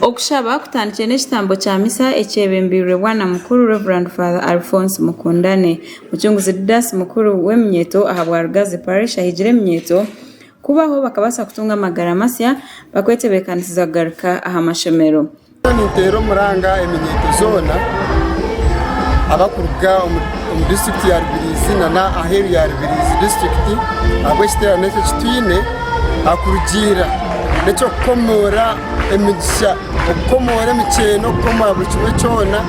Okushaba kutandikire n'ekitambo kya misa ekyebembeirwe Bwana Mukuru Rev. Father Alphonse Mukundane. Mucunguzi Didas Mukuru w'eminyeeto aha bwa Rugazi Parish ahigire eminyeeto kubaho bakabaasa kutunga amagara masya bakwetebeekanisiza kugaruka aha mashomero. Ninteera omuranga eminyeeto zoona abarikuruga omu disiturikiti ya Rubirizi nana aheeru ya Rubirizi disiturikiti ahabw'ekiteerane eki ekitwine aha kurugiirira n'eky'okukomoora emigisha, okukomoora emikyeeno, okukomoora buri kimwe kyona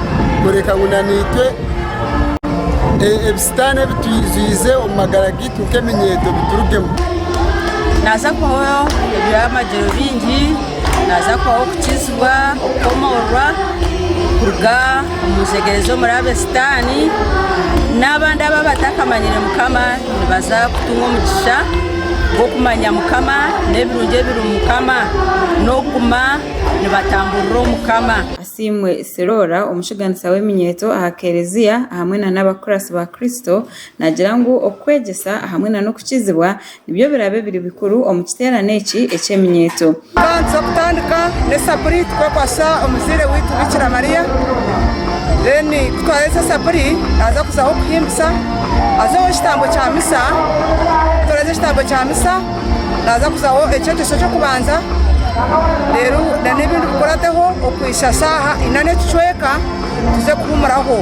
kureka ngu naitwe ebisitaani ebi twijwiize omu magara gaitu nk'eminyeeto biturugemu. Naza kuhooraho eby'amagyerobiingi. Naaza kubaho kukizibwa, okukomoorwa kuruga omu njegyere z'omuraabe Sitaani. N'abandi abu abatakamanyire Mukama nibaza kutunga omugisha gw'okumanya Mukama n'ebirungi ebiri omu Mukama, n'okuguma nibatamburira omu Mukama. Asiimwe Siroora, omushuganisa w'eminyeeto aha Kereziya hamwe n'abakuratsi ba Kristo, naagira ngu okwegyesa hamwe n'okukizibwa Nibyo biraabe biri bikuru omu kiteerane eki eky'eminyeeto. Ka nituza kutandika n'esaburi tukwekwasisa Omuzaire waitu Bikira Maria. Then ku twaaheza esaburi naaza kuzaho okuhimbisa, azeho ekitambo kya misa. Ku turaheza ekitambo kya misa naaza kuzaho ekyegyeso ky'okubanza reero n'ebindi bikurateho okuhitsya shaaha ina n'ekicweka tuze kuhuumuraho.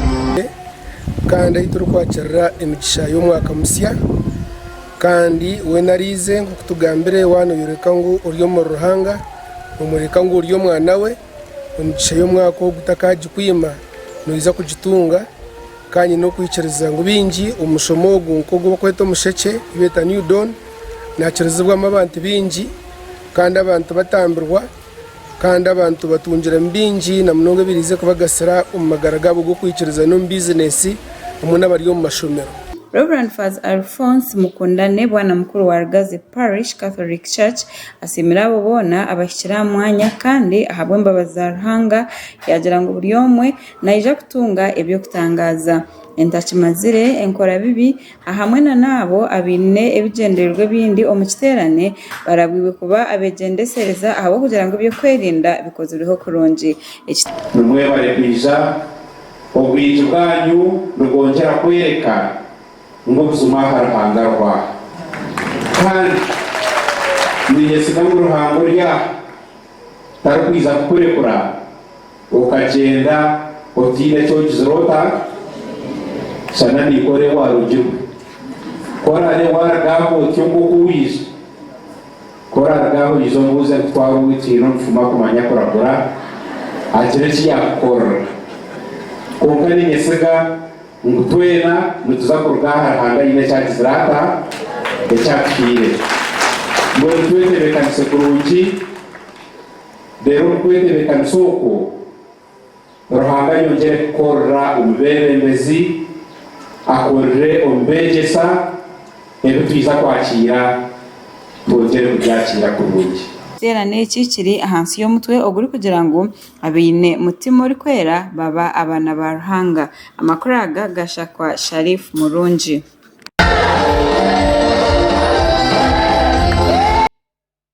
Kandi ahi turikwakirira emigisha y'omwaka musya. Kandi weena ariize, nk'oku tugambire, waanoyoreka ngu ori omuri Ruhanga, noomworeka ngu ori Omwana we, emigisha y'omwaka ogu takaagikwima, noija kugitunga. Ka nyine okwikiriza ngu baingi omu mushomo ogu, nk'ogu barikweta omushekye, ei beeta New Dawn, naakirizibwamu abantu baingi, kandi abantu batambirwa. Kandi abantu batungiremu bingi, na munonga ebiraije kubagasira omu magara gaabo g'okwikiriza n'omu bizinesi, hamwe n'abari omu mashomero. Rev. Faz. Alphonse Mukundane, Bwana Mukuru wa Rugazi Parish Catholic Church, asiimire abo boona abahikire aha mwanya kandi ahabw'embabazi za Ruhanga yaagira ngu buri omwe naija kutunga eby'okutangaaza. Entakimazire, enkora bibi, Ahamwe na n'abo abaine ebigyendererwa ebindi omu kiteerane, barabwirwe kuba abegyendesereza ahabw'okugira ngu eby'okwerinda bikozirweho kurungi. Eki. Nimwebare kwija, obwingi bwanyu nibwongyera kworeka ngu obuzima aha Ruhanga ariho aha. Kandi ninyesiga ngu Ruhanga ori aha. Tarikwija kukurekura okagyenda otaine eki ogizire ota? Shana naikwe ore owarugirwe. Ku oraabe waaruga aha otyo nk'oku waija, ku oraaruga aha oije omubuuze ngu, Twaba obumwe twine omufumu akumanya kuragura, agira eki yaakukorera. Kwonka niinyesiga. Ngu twena nituza kuruga aha Ruhanga aine eki agizire ata? Eki atuhaire. Mbwenu twetebeekanise kurungi. Reero omu kwetebeekanisa okwo, Ruhanga ayongyere kukoorera omu beebembezi, akoorere omu beegyesa, ebi twija kwakiira twongyere kubyakiira kurungi. Ekiteerane eki kiri ahansi y'omutwe ogurikugira ngu Abaine mutima orikwera baba abaana ba Ruhanga. Amakuru aga gashakwa Sharif Murungi.